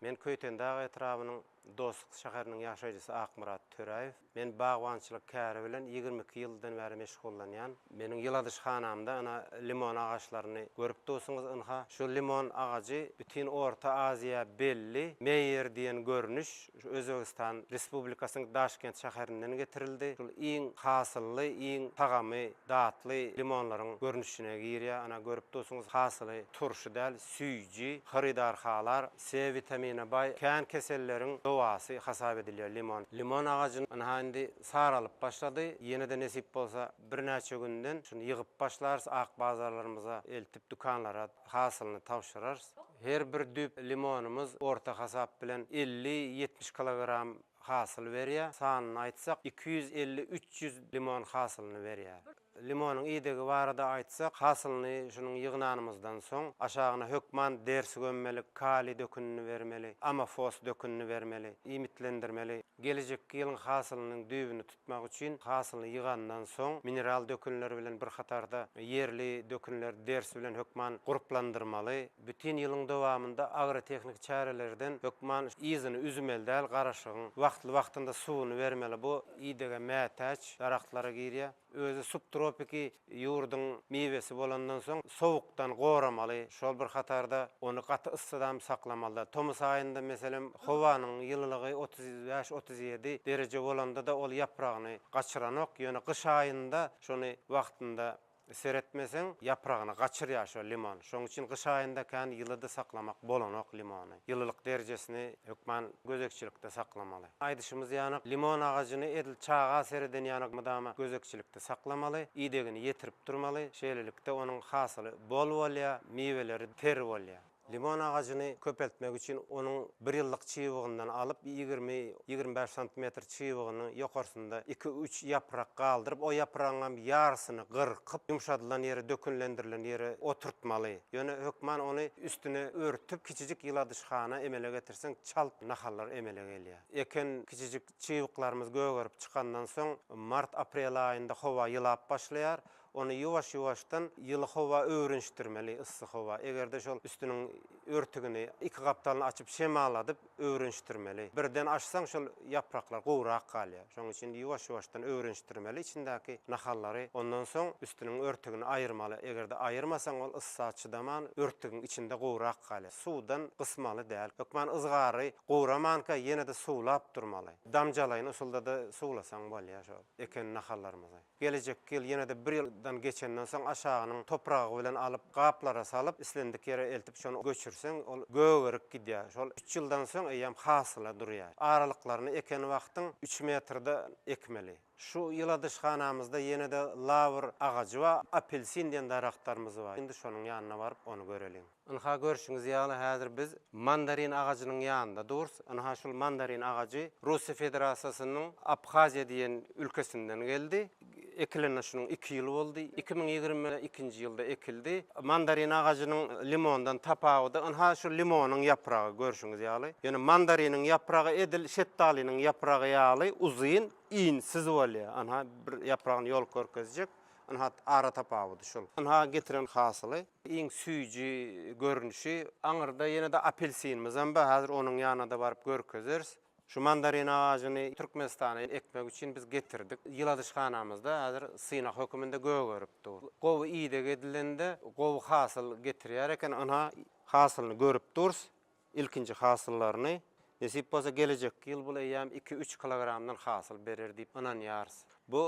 Men Köýtendag etrabynyň Dostluk şäheriniň ýaşaýjysy Akmyrat Töräýew. Men bagbançylyk käri bilen ýigrimi iki ýyldan bäri meşgullanýan. Meniň ýyladyşhanamda ynha limon agaçlaryny görüp dursuňyz. Ynha şu limon agajy bütin Orta Aziýa belli Meýer diýen görnüş şu Özbegistan Respublikasynyň Daşkent şäherinden getirildi. Şul iň hasylly, iň tagamy datly limonlaryň görnüşine girýär. Ana görüp dursuňyz hasyly turşy däl. Süýji, hyrydar halar, C witamine baý, kän keselleriň dowasy hasap edilýär limon. Limon agajyn ynha indi saralyp başlady, ýene-de nesip bolsa birnäçe günden şuny ýygyp başlarys, ak bazarlarymyza eltip dükanlara hasylyny tabşyrarys. Her bir düýp limonymyz orta hasap bilen elli, ýetmiş kilogram hasyl berýär. Sanyny aýtsak, iki ýüz elli, üç ýüz limon hasylyny berýär. Limonyň idegi barada aýtsak, hasylyny şunuň ýygnanymyzdan soň, aşagyna hökman dersi gömmelik, kaliý dökünini bermeli, amofos dökünini bermeli, iýmitlendirmeli. Gelejekki ýylyň hasylynyň düýbüni tutmak üçin hasylyny ýygandan soň, mineral dökünler bilen bir hatarda ýerli dökünleri ders bilen hökman gurplandyrmaly. Bütin ýylyň dowamynda agrotehniki çärelerden hökman yzyny üzmeli däl garaşygyň, wagtly-wagtynda suwuny bermeli. Bu idege mätäç daragtlara girýär. Özi subtropiki ýurduň miwesi bolandan soň sowukdan goramaly, şol bir hatarda ony gaty yssydam saklamaly däl. Tomus aýynda meselem howanyň ýylylygy otuz bäş, otuz ýedi dereje bolanda-da ol ýapragyny gaçyranok, ýöne gyş aýynda şony wagtynda Seretmeseň ýapragyny gaçyrýar şo limon. Şoň üçin gyş aýynda kän ýylyda saklamak bolanok limony. Ýylylyk derjesini hökman gözegçilikde saklamaly. Aýdyşymyz ýanak, limon agajyny edil çaga sereden ýanak mydama gözegçilikde saklamaly, idegini ýetirip durmaly. Şeýlelikde onuň hasyly bol bolýar, miweleri ter bolýar. Limon agajyny köpeltmek üçin onuň bir ýyllyk çybygyndan alyp, ýigrimi, ýigrimi bäş santimetr çybygynyň ýokarsynda iki-üç ýaprak galdyryp, o ýapragyňam ýarysyny gyrkyp, ýumşadylan ýere, dökünlendirilen ýere oturtmaly. Ýöne hökman ony üstüne örtüp, kiçijik ýyladyşhana emele getirseň, çalt nahallar emele gelýär. Eken kiçijik çybyklarymyz gögerip çykandan soň, mart-aprel aýynda howa ýylap başlaýar. Ony ýuwaş-ýuwaşdan ýyly howa öwrenişdirmeli, yssy howa. Eger-de şol üstüniň örtügini, iki gapdalyny açyp şemaladyp öwrenişdirmeli. Birden açsaň şol ýapraklar gowurak galýar. Şonuň üçin ýuwaş-ýuwaşdan öwrenişdirmeli içindäki nahallary. Ondan soň üstüniň örtügini aýyrmaly. Eger-de aýyrmasaň ol yssa çydaman örtügiň içinde gowurak galýar. Suwdan gysmaly däl. Hökman yzgary gowramanka ýene-de suwlap durmaly. Damjalaýyn usulda-da suwlasaň bolýar şol eken nahallarymyzy. Gelejek ýyl ýene-de bir ýyldan geçenden soň aşagynyň topragy bilen alyp, gaplara salyp, islendik ýere eltip şony göçürseň, ol gögerip gidýär. Şol üç ýyldan soň eýýäm hasyla durýar. Aralyklaryny eken wagtyň üç metrde ekmeli. Şu ýyladyşhanamyzda ýene-de lawr agajy we apelsin diýen daragtlarymyz bar. Indi şonuň ýanyna baryp, ony göreliň. Ynha, görşüňiz ýaly, häzir biz mandarin agajynyň ýanynda durus. Ynha, şul mandarin agajy Russiýa Federasiýasynyň Abhaziýa diýen ülkesinden geldi. Ekilenine şunuň iki ýyl boldy. Iki müň ýigrimi ikinji ýylda ekildi. Mandarin agajynyň limondan tapawudy, ynha, şu limonyň ýapragy, görşüňiz ýaly. Ýöne mandariniň ýapragy edil şetdalynyň ýapragy ýaly uzyn, insiz bolýar. Ynha, bir ýapragyny ýolup görkezjek. Ynha, ara tapawudy şul. Ynha, getiren hasyly. Iň süýji görnüşi. Aňyrda ýene-de apelsinimizem bar. Häzir onuň ýanyna-da baryp görkezeris. Şu mandarin agajyny Türkmenistana ekmek üçin biz getirdik. Ýyladyşhanamyzda häzir synag höküminde gögerip dur. Gowy ideg edilende gowy hasyl getirýär eken. Ynha, hasylyny görüp durus. Ilkinji hasyllaryny, nesip bolsa, gelejekki ýyl bul eýýäm iki-üç kilogramdan hasyl berer diýip ynanýarys. Bu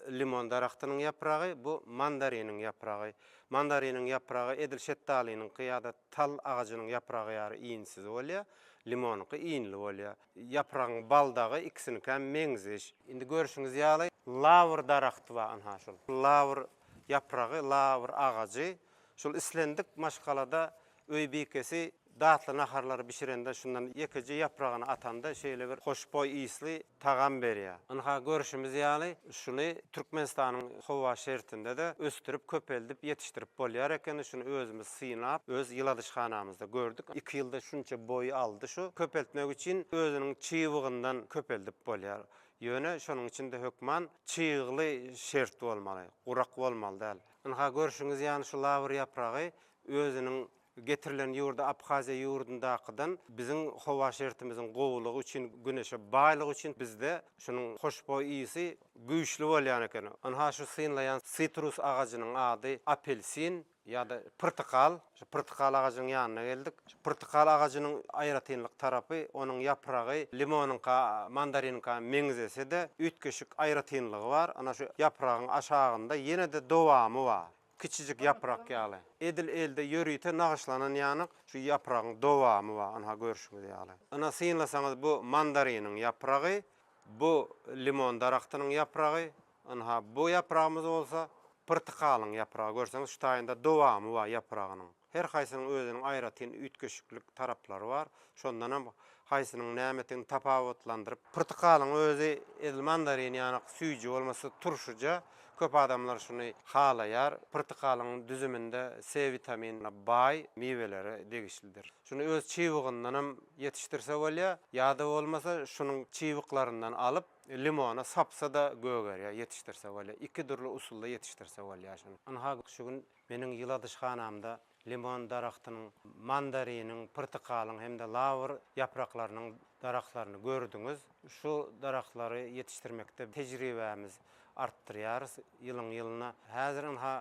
limon daragtynyň ýapragy, bu mandariniň ýapragy. Mandariniň ýapragy edil şetdalynyňky ýa-da tal agajynyň ýapragy ýary iýnsiz bolýar, limonyňky iýnli bolýar. Ýapragyň baldagy ikisinikäm meňzeş. Indi görşüňiz ýaly, lawr daragty bar, ynha, şol lawr ýapragy, lawr agajy. Şol islendik maşgalada Öý bikesi datly naharlary bişirende şundan ýekeje ýapragyny atanda şeýle bir hoşboý ysly tagam berýär. Ynha görşümiz ýaly şuny Türkmenistanyň howa şertinde-de ösdürip köpeldip ýetişdirip bolýar ekeni şuny özümiz synap öz ýyladyşhanamyzda gördük. Iki ýylda şunça boýy aldy şu. Köpeltmek üçin özüniň çybygyndan köpeldip bolýar. Ýöne şonuň üçin-de hökman çygly şert bolmaly, gurak bolmaly däl. Ynha görşüňiz ýaly şu lawr ýapragy Özüniň getirilen ýurdy Abhaziýa ýurdundakydan biziň howa şertimiziň gowulygy üçin, güneşe baýlygy üçin bizde şunuň hoşboý ysy güýçli bolýan eken. Ynha şu synlaýan sitrus agajynyň ady apelsin ýa-da pyrtykal. Şu pyrtykal agajynyň ýanyna geldik. Şu pyrtykal agajynyň aýratynlyk tarapy, onuň ýapragy limonyňka, mandariniňka meňzese-de, üýtgeşik aýratynlygy bar. Ana şu ýapragyň aşagynda ýene-de dowamy bar. Kiçijik ýaprak ýaly. Edil elde ýörite nagyşlanan ýanyk şu ýapragyň dowamy bar, ynha görşüňiz ýaly. Ynha synlasaňyz bu mandariniň ýapragy, bu limon daragtynyň ýapragy, ynha bu ýapragymyz bolsa pyrtykalyň ýapragy. Görseňiz şu taýynda dowamy bar ýapragynyň. Her haýsynyň özüniň aýratyn üýtgeşiklik taraplary bar. Şondan hem haýsynyň nämedigini tapawutlandyryp. Pyrtykalyň özi edil mandarin ýanak süýji bolmasa turşyja, köp adamlar şuny halaýar. Pyrtykalyň düzüminde C witaminine baý miwelere degişlidir. Şuny öz çybygyndan hem ýetişdirse bolýar, ýa-da bolmasa şunuň çybyklaryndan alyp, limona sapsa-da gögerýär, ýetişdirse bolýar. Iki dürli usulda ýetişdirse bolýar şuny. Ynha, şu gün Meniň ýyladyşhanamda limon daragtynyň, mandariniň, pyrtykalyň hem-de lawr ýapraklarynyň daragtlaryny gördüňiz. Şu daragtlary ýetişdirmekde tejribämiz artdyrýarys ýylyň-ýylyna. Häzir ynha,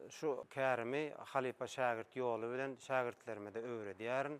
şu kärimi halypa-şägirt ýoly bilen şägirtlerime-de öwredýärin.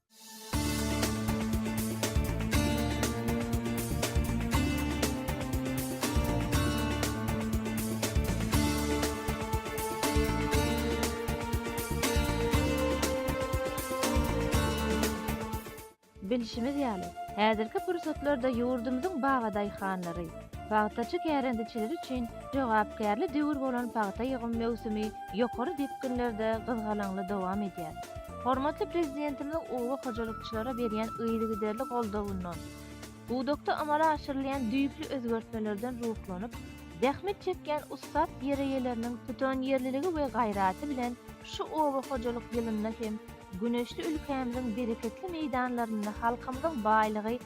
Bilşimiz ýaly, häzirki pursatlarda ýurdumyzyň bagadaýhanlary, pagtaçy kärendeçileri üçin jogapkärli döwür bolan pagta ýygym möwsümi ýokary depginlerde gyzgalaňly dowam edýär. Hormatly Prezidentimiziň oba hojalykçylara berýän yzygiderli goldawyndan, pudakda amala aşyrylýan düýpli özgertmelerden ruhlanyp, zähmet çekýän ussat ýereýeleriniň tutanýerliligi we gaýraty bilen şu oba hojalyk ýylynda hem güneşli ülkämiziň bereketli meýdanlarynda halkymyzyň baýlygy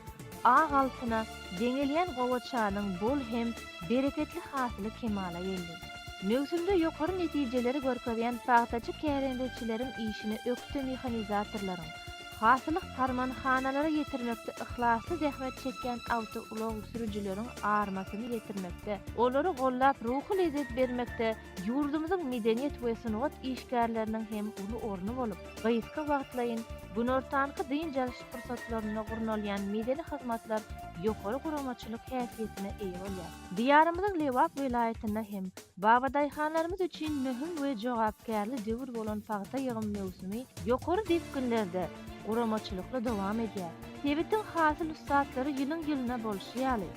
ak altyna deňelýän gowaçanyň bol hem bereketli hasyly kemala geldi. Möwsümde ýokary netijeleri görkezýän pagtaçy kärendeçileriň işine ökde mehanizatorlaryň, hasyly harmanhanalara ýetirmekde yhlasly zähmet çekýän awtoulag sürüjileriň armasyny ýetirmekde, olary gollap ruhy lezzet bermekde ýurdumyzyň medeniýet we sungat işgärleriniň hem uly orny bolup, gysga wagtlaýyn, günortanky dynç alyş pursatlarynda gurnalýan medeni hyzmatlar ýokary guramaçylyk häsiýetine eýe bolýar. Diýarymyzyň Lebap welaýatynda hem babadaýhanlarymyz üçin möhüm we jogapkärli döwür bolan pagta ýygym möwsümi ýokary depginlerde, guramaçylykly dowam edýär. Sebitiň hasyl ussatlary ýylyň-ýylyna bolşy ýaly,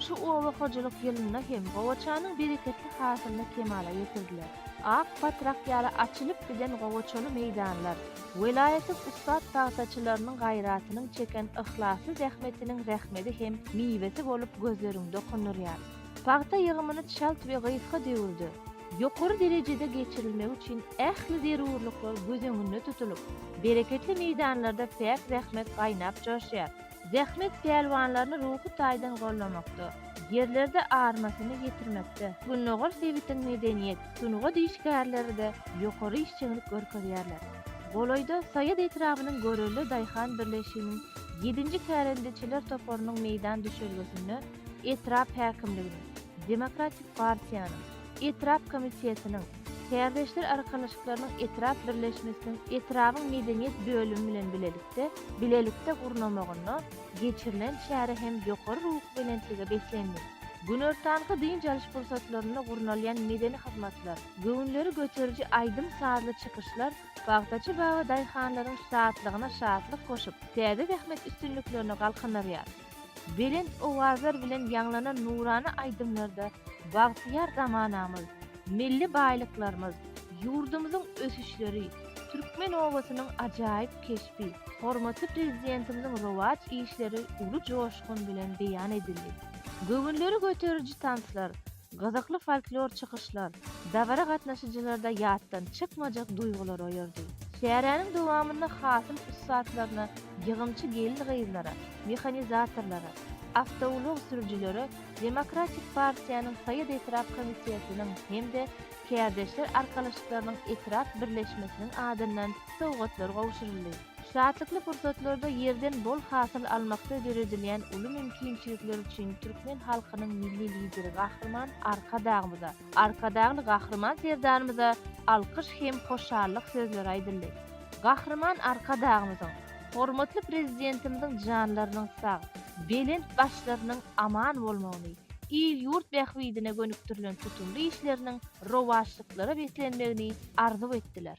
şu oba hojalyk ýylynda hem gowaçanyň bereketli hasylyny kemala getirdiler. Ak batrak ýaly açylyp giden gowaçaly meýdanlar, Welaýatyň ussat pagtaçylarynyň gaýratynyň çeken yhlasly zähmetiniň rehmedi hem miwesi bolup gözleriňi dokundyrýar. Pagta ýygymyny çalt we gysga döwürde, ýokary derejede geçirilmegi üçin ähli zerurlyklar göz öňünde tutulyp, bereketli meýdanlarda päk zähmet gaýnap-joşýar. Zähmet pälwanlaryny ruhy taýdan goldamakda, ýerlerde armasyny ýetirmekde Gündogar sebitiň medeniýet, sungat işgärleri-de ýokary işjeňlik görkezýärler. Golaýda Saýat etrabynyň Görelde daýhan birleşiginiň ýedinji kärendeçiler toparynyň meýdan düşelgesinde etrap häkimliginiň, Demokratik partiýanyň, etrap komitetiniň, Kärdeşler arkalaşyklarynyň etrap birleşmesiniň etrabyň medeniýet bölümi bilen bilelikde bilelikde gurnamagynda geçirilen çäre hem ýokary ruhubelentlige beslendi. Günortanky dynç alyş pursatlarynda gurnalýan medeni hyzmatlar, göwünleri göteriji aýdym-sazly çykyşlar pagtaçy baba daýhanlaryň şatlygyna şatlyk goşup, täze zähmet üstünliklerini galkandyrýar. Belent owazlar bilen ýaňlanan nurana aýdymlarda bagtyýar zamanamyz, milli baýlyklarymyz, ýurdumyzyň ösüşleri, türkmen obasynyň ajaýyp keşbi, hormatly Prezidentimiziň rowaç işleri uly joşgun bilen beýan edildi. Göwünleri göteriji tanslar, Gyzykly folklor çykyşlar dabara gatnaşyjylarda ýatdan çykmajak duýgulary oýardy. Çäräniň dowamynda hasyl ussatlaryna, ýygymçy gelin-gyzlara, mehanizatorlara, awtoulag sürüjilere Demokratik partiýanyň Saýat etrap komitetiniň hem-de Kärdeşler arkalaşyklarynyň etrap birleşmesiniň adyndan sowgatlar gowşuryldy. Şatlykly pursatlarda ýerden bol hasyl almakda döredilýän uly mümkinçilikler üçin türkmen halkynyň Milli Lideri Gahryman Arkadagymyza, Arkadagly Gahryman Serdarymyza alkyş hem hoşallyk sözleri aýdyldy. Gahryman Arkadagymyzyň, hormatly Prezidentimiziň janlarynyň sag, belent başlarynyň aman bolmagyny, il-ýurt bähbidine gönükdirilen tutumly işleriniň rowaçlyklara beslenmegini arzuw etdiler.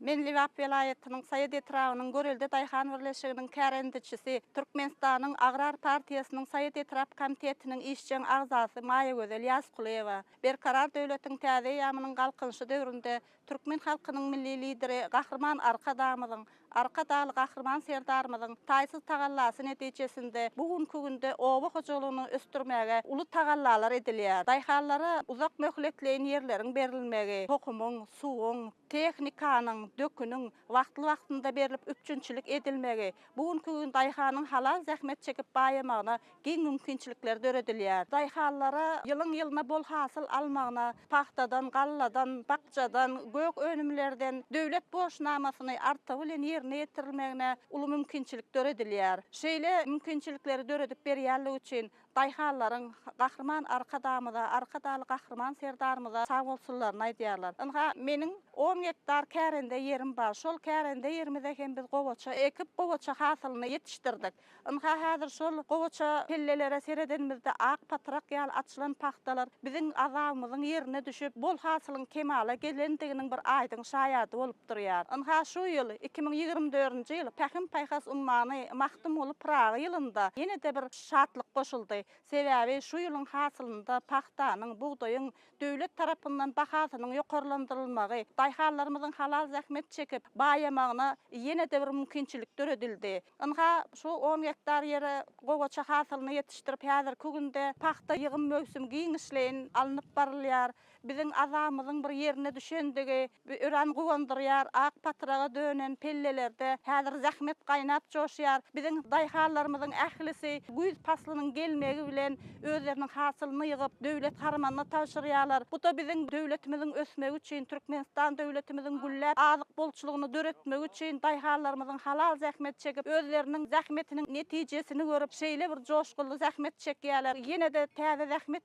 Men Lebap welaýatynyň Saýat etrabynyň Görelde daýhan birleşiginiň kärendeçisi, Türkmenistanyň Agrar partiýasynyň Saýat etrap komitetiniň işjeň agzasy Maýagözel Ýazkulyýewa. Berkarar döwletiň täze eýýamynyň Galkynyşy döwründe türkmen halkynyň Milli Lideri Gahryman Arkadagymyzyň, Arka dagly Gahryman Serdarymyzyň taýsyz tagallasy netijesinde bu günki günde oba hojalygyny ösdürmäge uly tagallalar edilýär. Daýhanlara uzak möhletleýin ýerleriň berilmegi, tohumyň, suwuň, Tehnikanyň, döküniň wagtly-wagtynda berlip üpjünçilik edilmegi, bu günki gün daýhanyň halal zähmet çekip baýamagyna giň mümkinçilikler döredilýär. Daýhanlara ýylyň-ýylyna bol hasyl almagyna, pagtadan, galladan, bakjadan, gök önümlerden döwlet borçnamasyny artygy bilen ýerine ýetirilmegine uly mümkinçilik döredilýär. Şeýle mümkinçilikleri döredip berýänligi üçin Daýhanlaryň Gahryman Arkadagymyza, Arkadagly Gahryman Serdarymyza sagbolsunlaryny aýdýarlar. Ynha, meniň on gektar kärende ýerim bar. Şol kärende ýerimize hem biz gowaça ekip, gowaça hasylyny ýetişdirdik. Ynha, häzir şol gowaça pellelere seredenimizde ak patrak ýaly açylan pagtalar biziň azabymyzyň ýerine düşüp, bol hasylyň kemala gelendiginiň bir aýdyň şaýady bolup durýar. Ynha, şu ýyl, iki müň ýigrimi dördünji ýyl Pähim-paýhas ummany Magtymguly Pyragy ýylynda ýene-de bir. Şatlyk goşuldy. Sebäbi şu ýylyň hasylynda pagtanyň, bugdaýyň döwlet tarapyndan bahasynyň ýokarlandyrylmagy daýhanlarymyzyň halal zähmet çekip, baýamagyna ýene-de bir mümkinçilik döredildi. Ynha, şu on gektar ýere gowaça hasylyny ýetişdirip, häzirki günde pagta ýygym möwsümi giňişleýin alnyp barylýar. Biziň azamyzyň bir ýerine düşendigi örän guwandyrýar. Ak patyraga dönen pellelerde häzir zähmet gaýnap-joşýar. Biziň daýhanlarymyzyň ählisi güýz paslynyň gelmegi bilen özleriniň hasylyny ýygyp, döwlet harmanyna tabşyrýarlar. Bu-da biziň döwletimiziň ösmegi üçin, Türkmenistan döwletimiziň gülläp, azyk bolçulygyny döretmegi üçin daýhanlarymyzyň halal zähmet çekip, özleriniň zähmetiniň netijesini görüp, şeýle bir joşgunly zähmet çekýärler. Ýene-de täze zähmet.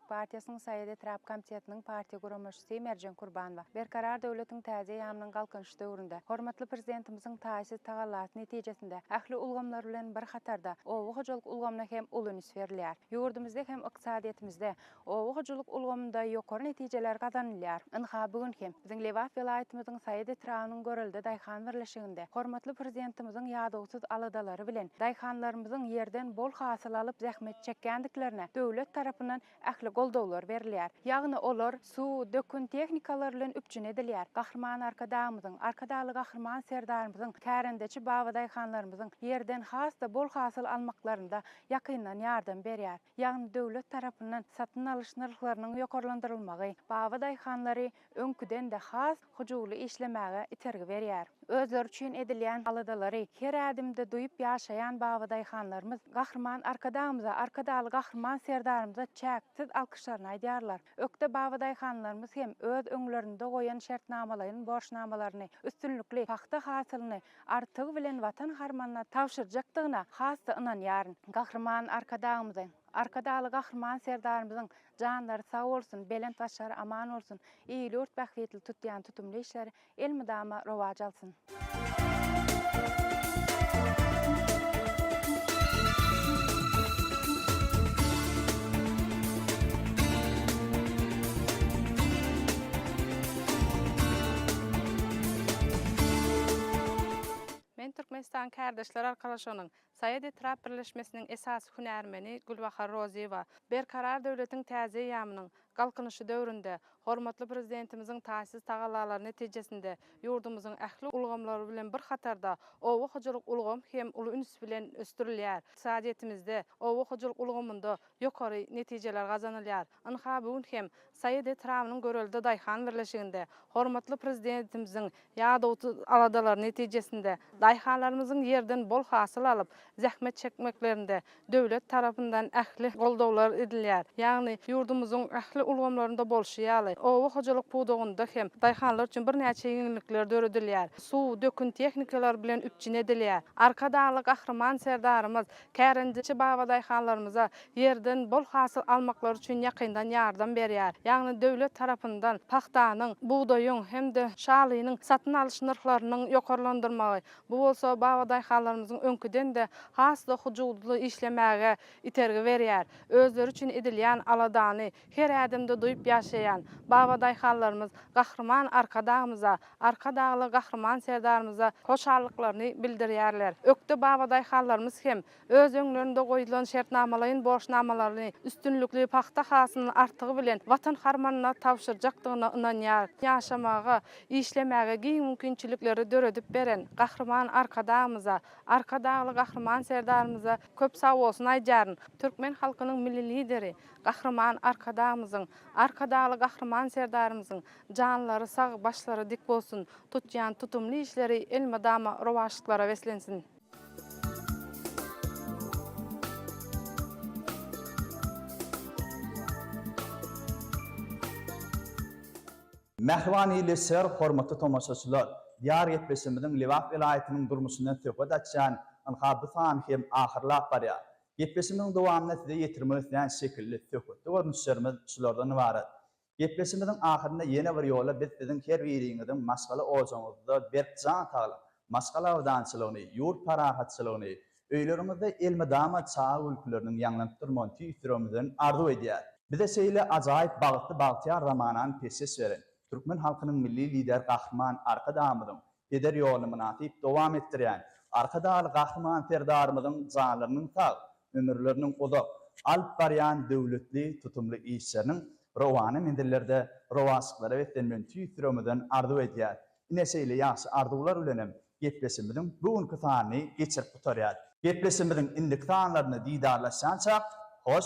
partiýasynyň Saýat etrap komitetiniň partiýa guramaçysy Merjen Kurbanowa Berkarar döwletiň täze ýamynyň Galkynyş döwründe hormatly Prezidentimiziň taýsyz tagallasy netijesinde ähli ulgamlar bilen bir hatarda oba hojalyk ulgamyna hem uly üns berilýär. Ýurdumyzda hem ykdysadyýetimizde, oba hojalyk ulgamynda ýokary netijeler gazanylýar. Ynha, bu gün hem. Biziň Lebap welaýatymyzyň Saýat etrabynyň Görelde daýhan birleşiginde hormatly Prezidentimiziň ýadawsyz aladalary bilen daýhanlarymyzyň ýerden bol hasyl alyp zähmet çekýändiklerine döwlet tarapyndan ähli goldawlar berilýär. Ýagny olar suw, dökün, tehnikalar bilen üpjün edilýär. Gahryman Arkadagymyzyň, Arkadagly Gahryman Serdarymyzyň kärendeçi babadaýhanlarymyzyň ýerden has-da bol hasyl almaklarynda ýakyndan ýardam berýär. ýagny döwlet tarapyndan satyn alyş nyrhlarynyň ýokarlandyrylmagy baba daýhanlary öňküden-de has hyjuwly işlemäge itergi berýär. Özleri üçin edilýän aladalary her ädimde duýup ýaşaýan baba daýhanlarymyz Gahryman Arkadagymyza, Arkadagly Gahryman Serdarymyza çäksiz alkyşlaryny aýdýarlar. Ökde babadaýhanlarymyz hem öz öňlerinde goýan şertnamalaýyn borçnamalaryny üstünlikli pagta hasylyny artygy bilen Watan harmanyna tabşyrjakdygyna has-da ynanýaryn. Gahryman Arkadagymyzyň, Arkadagly Gahryman Serdarymyzyň janlary sag bolsun, belent başlary aman bolsun, il-ýurt bähbitli tutýan tutumly işleri Elmydama rowaç alsyn. Men Türkmenistan Kärdeşler arkalaşygynyň Saýat etrap birleşmesiniň esasy hünärmeni Gülbahar Rozyýewa Berkarar döwletiň täze eýýamynyň Galkynyşy döwründe hormatly Prezidentimiziň taýsyz tagallalary netijesinde ýurdumyzyň ähli ulgamlary bilen bir hatarda oba hojalyk ulgamy hem uly üns bilen ösdürilýär, ykdysadyýetimizde, oba hojalyk ulgamynda ýokary netijeler gazanylýar. Ynha, bu gün hem Saýat etrabynyň Görelde daýhan birleşiginde hormatly Prezidentimiziň ýadawsyz aladalary netijesinde daýhanlarymyzyň ýerden bol hasyl alyp, zähmet çekmeklerinde döwlet tarapyndan ähli goldawlar edilýär. Ýagny, ýurdumyzyň ähli ulgamlarynda bolşy ýaly, oba hojalyk pudagynda hem daýhanlar üçin birnäçe ýeňillikler döredilýär. Suw, dökün tehnikalary bilen üpjün edilýär. Arkadagly Gahryman Serdarymyz Kärendeçi babadaýhanlarymyza ýerden bol hasyl almaklary üçin ýakyndan ýardam berýär. Ýagny döwlet tarapyndan pagtanyň, bugdaýyň hem-de şalynyň satyn alyş nyrhlarynyň ýokarlandyrmagy, bu bolsa babadaýhanlarymyzyň öňküden-de has-da hujutly işlemäge itergi berýär, özleri üçin edilýän aladany, Her ädimde duýup ýaşaýan babadaýhanlarymyz Gahryman Arkadagymyza, Arkadagly Gahryman Serdarymyza hoşallyklaryny bildirýärler. Ökde babadaýhanlarymyz hem öz öňlerinde goýlan şertnamalaýyn borçnamalaryny üstünlikli pagta hasylyny artygy bilen Watan harmanyna tabşyrjakdygyna ynanýar. Ýaşamaga, işlemäge giň mümkinçilikleri döredip beren Gahryman Arkadagymyza, Arkadagly Gahryman Serdarymyza köp sagbolsun aýdýaryn. Türkmen halkynyň Milli Lideri, Gahryman Arkadagymyzyň, Arkadagly Gahryman Serdarymyzyň janlary sag, başlary dik bolsun, tutýan tutumly işleri elmydama rowaçlyklara beslensin! Mähriban Illi şyr, hormatly tomaşaçylar! Diýar gepleşigimiziň Lebap welaýatynyň durmuşyndan söhbet açýan ynha bu sany hem ahyrlap barýar. Gepleşimiziň dowamynda size ýetirmek isleýän şekilli, söhbetli görnüşlerimiz şulardan ybarat. Gepleşimiziň ahyrynda ýene bir ýola biz siziň her biriňiziň maşgala ojagyňyzda berk jan saglyk, maşgala abadançylygyny, ýurt parahatçylygyny, öýleriňizde elmydama çaga gülküleriniň ýaňlanyp durmagyny tüýs ýüregimizden arzuw edýäris. Bize şeýle ajaýyp bagtly bagtyýar zamanany peşgeş beren, türkmen halkynyň Milli Lideri Gahryman Arkadagymyzyň Peder ýoluny mynasyp dowam etdirýän Arkadagly Gahryman Serdarymyzyň janlarynyň sag, ömürleriniň uzak, alyp barýan döwletli, tutumly işleriniň rowana menzillerde rowaçlyklara beslenmegini tüýs ýüregimizden arzuw edýäris. Ine, şeýle ýagşy arzuwlar bilenem gepleşigimiziň bu günki sanyny geçirip gutarýarys. Gepleşigimiziň indiki sanlarynda didarlaşýançak, hoş,